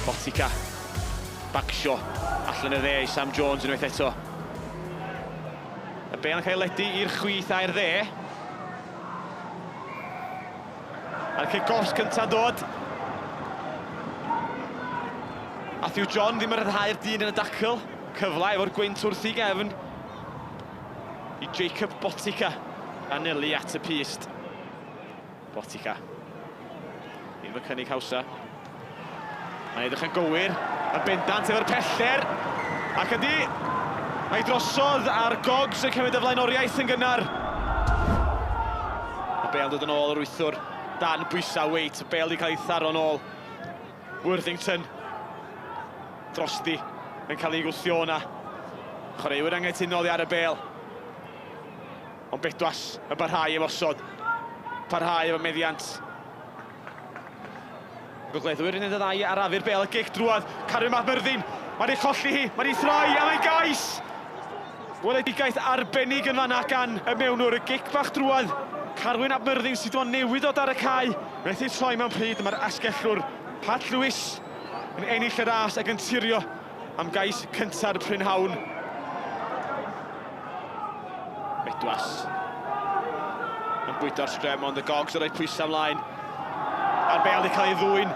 Botica. Bagsio. Allan y dde i Sam Jones unwaith eto. Y bel yn cael ledu i'r chwith a'r dde. A'r cic offs cynta'n dod. Matthew John ddim yn rhyddhau'r dyn yn y dacl. Cyfle efo'r gwynt wrth i gefn i Jacob Botica anelu at y pyst. Botica. Ddim y cynnig hawsa. Mae'n edrych yn gywir, yn bendant efo'r pellter, ac ydy, mae drosodd a'r Gogs yn cymryd y flaenoriaeth yn gynnar. Y bel dod yn ôl yr wythwr dan bwysau weight, y bel wedi cael ei tharo'n ôl. Worthington drosti yn cael ei gwthio o'na. Chwaraewyr angytunol i ar y bel. Ond Bedwas yn barhau efo osod. Parhau efo meddiant. Gogleddwyr yn un o ddau i arafu'r bêl a gic drwodd, Carion Mab Myrddin, mae'n ei cholli hi, mae'n ei throi a mae'n gais! Weledigaeth arbennig yn fanna gan y mewnwr, y gic bach drwodd, Carwyn ap Myrddin sydd wan newydd ddod ar y cae, methu troi mewn pryd a mae'r asgellwr Pat Lewis yn ennill y ras ac yn turio am gais cynta'r prynhawn. Bedwas. Yn bwydo'r sgrem ond y gogs yn rhoi pwysau ymlaen. A'r bel wedi cael ei ddwy'n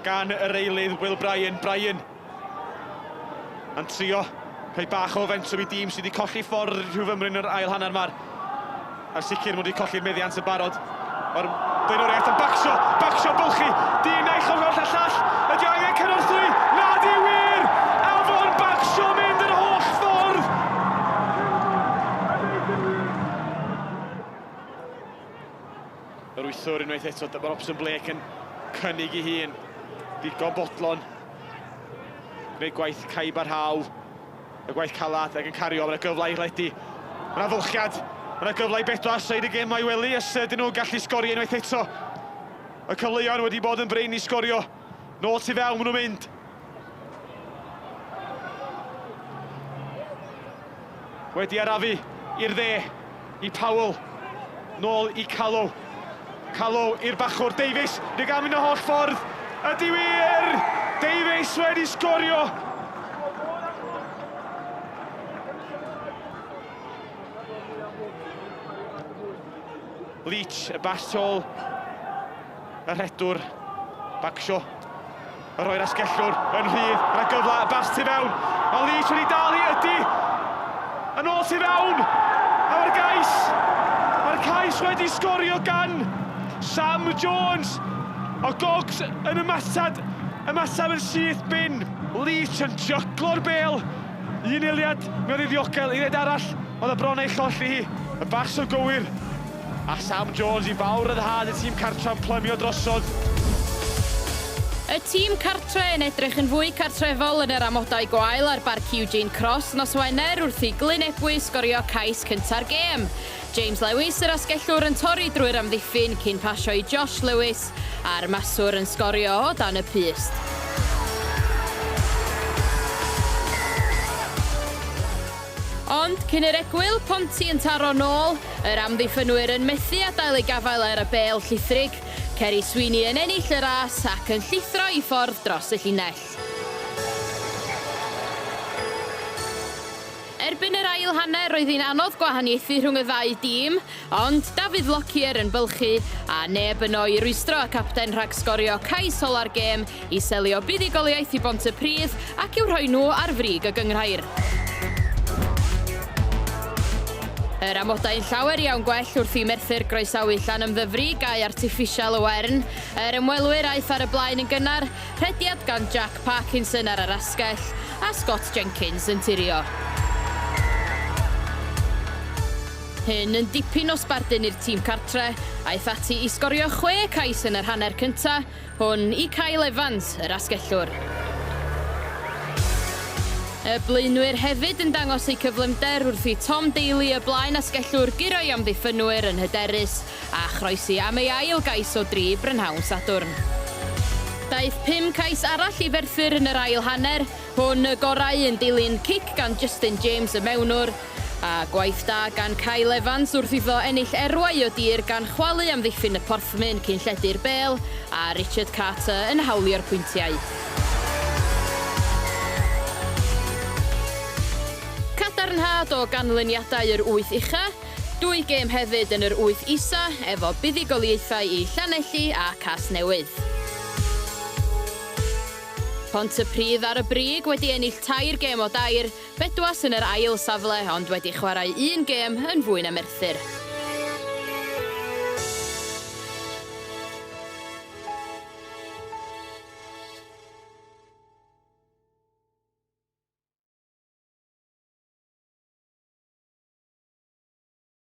gan yr eilydd Will Bryan. Bryan yn trio rhoi bach o fentwm i dîm sydd wedi colli ffordd rhyw fymryn yn yr ail hanner ma'r Yn sicr maen nhw wedi colli meddiant yn barod. Mae'r blaenoriaeth yn bacsio, bacsio bylchu, dyn a'i chymorth a llall. Ydy angen cynorthwy? Na, di wir! Afon bacsio mynd yr holl ffordd! Yr wythwr unwaith eto, dyma Robson Blake yn cynnig i hun. Digon bodlon. Gwneud gwaith caib a rhaw. Y gwaith calad ag yn cario, mae yna gyfle i Redi. Mae yna fylchiad, mae yna gyfle i bedwar seid y gem a'i wely os ydyn nhw'n gallu sgorio unwaith eto. Y cyfleoedd wedi bod yn brin i sgorio. Nôl tu fewn, maen nhw'n mynd. Wedi arafu i'r dde. i Powell, nôl i Callow. Callow i'r bachwr Davies, ni'n gael mynd y holl ffordd. Ydy wir! Davies wedi sgorio! Leach, y bas tol, y rhedwr, Bagshaw. A rhoi'r asgellwr yn rhydd, gyda gyfle fast tu fewn. Mae Leach wedi dal i ydy. Yn ôl tu fewn. A mae'r gais. Mae'r cais wedi sgorio gan Sam Jones. O Gogs yn ymateb, ymateb yn syth bin. Leach yn jyglo'r bêl. Un eiliad, mi oedd ei ddiogel, uned arall, oedd y bron ei cholli hi. Y bas o gywir. A Sam Jones i fawr ryddhad y tîm cartref plymio drosodd. Y tîm cartre yn edrych yn fwy cartrefol yn yr amodau gwael ar Barc Eugene Cross nos Wener wrth i Glyn Ebwy sgorio cais cynta'r gêm. James Lewis, yr asgellwr, yn torri drwy'r amddiffyn cyn pasio i Josh Lewis a'r maswr yn sgorio o dan y pyst. Ond cyn i'r egwyl ponti yn taro nôl, yr amddiffynwyr yn methu adael eu gafael ar y bêl llithrig, Ceri Sweeney yn ennill y ras ac yn llithro i ffordd dros y llinell. Erbyn yr ail hanner roedd hi'n anodd gwahaniaethu rhwng y ddau dîm, Ond David Lockyer yn bylchu, a neb yno i rwystro y capten rhag sgorio cais ola'r gêm i selio buddugoliaeth i Bontypridd ac i'w rhoi nhw ar frig y gynghrair. Yr amodau'n llawer iawn gwell wrth i Merthyr groesawu Llanymddyfri, gae artiffisial y Wern. Yr ymwelwyr aeth ar y blaen yn gynnar, rhediad gan Jack Parkinson ar yr asgell, a Scott Jenkins yn tirio. Hyn yn dipyn o sbardun i'r tîm cartre, aeth ati i sgorio chwe cais yn yr hanner cynta hwn i Kyle Evans, yr asgellwr. Y blaenwyr hefyd yn dangos eu cyflymder wrth i Tom Daley y blaen asgellwr guro i amddiffynwyr yn hyderus a chroesi am ei ail gais o dri brynhawn Sadwrn. Daeth pum cais arall i Ferthyr yn yr ail hanner hwn, y gorau yn dilyn cic gan Justin James y mewnwr, A gwaith da gan Kyle Evans wrth iddo ennill erwau o dir gan chwalu amddiffyn y porthmyn cyn lledu'r bêl a Richard Carter yn hawlio'r pwyntiau. Cadarnhad o ganlyniadau yr wyth ucha, dwy gêm hefyd yn yr wyth isa efo buddugoliaethau i Llanelli a Casnewydd. Pontypridd ar y brig wedi ennill tair gêm o dair Bedwas yn yr ail safle ond wedi chwarae un gêm yn fwy na Merthyr.